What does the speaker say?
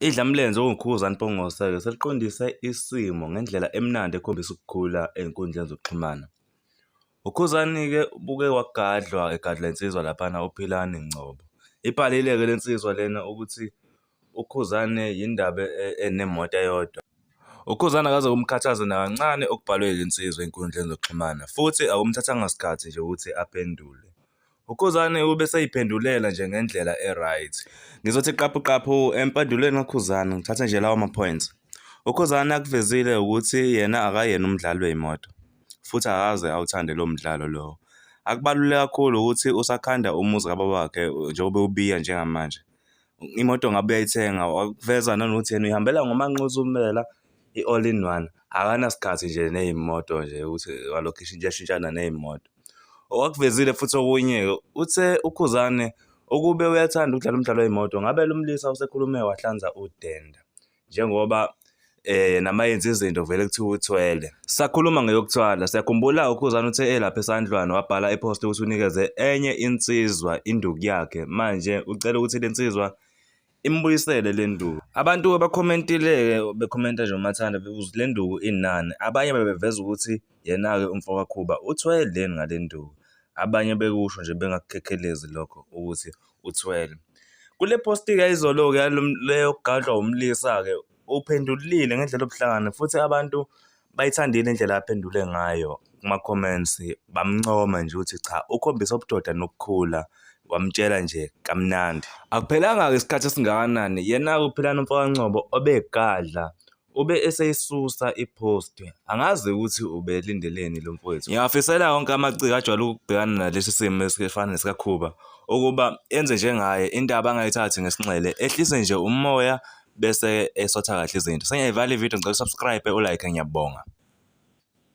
Idlamlenze uNkhuza Mpungose-ke seliqondise isimo ngendlela emnandi ekhombisa ukukhula ey'nkundleni zokuxhumana. UKhuzani-ke ubuke wagadlwa egadla insizwa laphana uPhilani Ngcobo. Ibhalile-ke le nsizwa lena ukuthi uKhuzani yindaba enemoto eyodwa. UKhuzani akaze kumkhathaze nakancane okubhalwe yile nsizwa ey'nkundleni zokuxhumana futhi akumthathanga sikhathi nje ukuthi aphendule. UKhuzane ubeseyiphendulela nje ngendlela e-right. Ngizothi qaphu qaphu empendulweni kaKhuzane ngithathe nje lawo ma-points. UKhuzane akuvezile ukuthi yena akayena umdlali wey'moto futhi akaze awuthande lo mdlalo lowo. Akubaluleke kakhulu ukuthi usakhanda umuzi kababa wakhe njengoba ubiya njengamanje. Imoto ngabe uyayithenga wakuveza nanokuthi yena uyihambela ngomanqozi umela i-all in one. Akanasikhathi nje ney'moto nje ukuthi walokhisha into eshintshana ney'moto. Owakuvezile futhi okunye-ke uthe uKhuzane ukube uyathanda ukudlala umdlalo wey'moto ngabe lo mlisa usekhulume wahlanza udenda njengoba eh nama yenza izinto vele kuthiwa uthwele sakhuluma ngeyokuthwala siyakhumbula ukhuzana uthe elapha esandlwana wabhala epost ukuthi unikeze enye insizwa induku yakhe manje ucela ukuthi lensizwa imbuyisele le nduku abantu abakhomentile-ke bekhomenta nje umathanda bebuza le nduku inani abanye bebeveza ukuthi yena-ke umfo kakhuba uthweleni ngale nduku abanye bekusho nje bengakukhekhelezi lokho ukuthi uthwele kule posti-ke izolo-ke leyokugadlwa wumlisa-ke uphendulile ngendlela obuhlangane futhi abantu bayithandile indlela aphendule ngayo kuma-comments bamncoma nje ukuthi cha ukhombisa ubudoda nokukhula wamtshela nje kamnandi akuphelanga-ke isikhathi esingakanani yena-ke uphilana umfokancobo obegadla ube eseyisusa i-post angazi ukuthi ubelindeleni lo mfowethu ngiyafisela wonke amaciko ajwayele ukubhekana nalesi simo esifana nesikakhuba ukuba enze njengaye indaba angayithathi ngesinxele ehlise nje umoya bese esotha kahle izinto. Sengiyayivala ivideo ngicela usubscribe ulike ngiyabonga.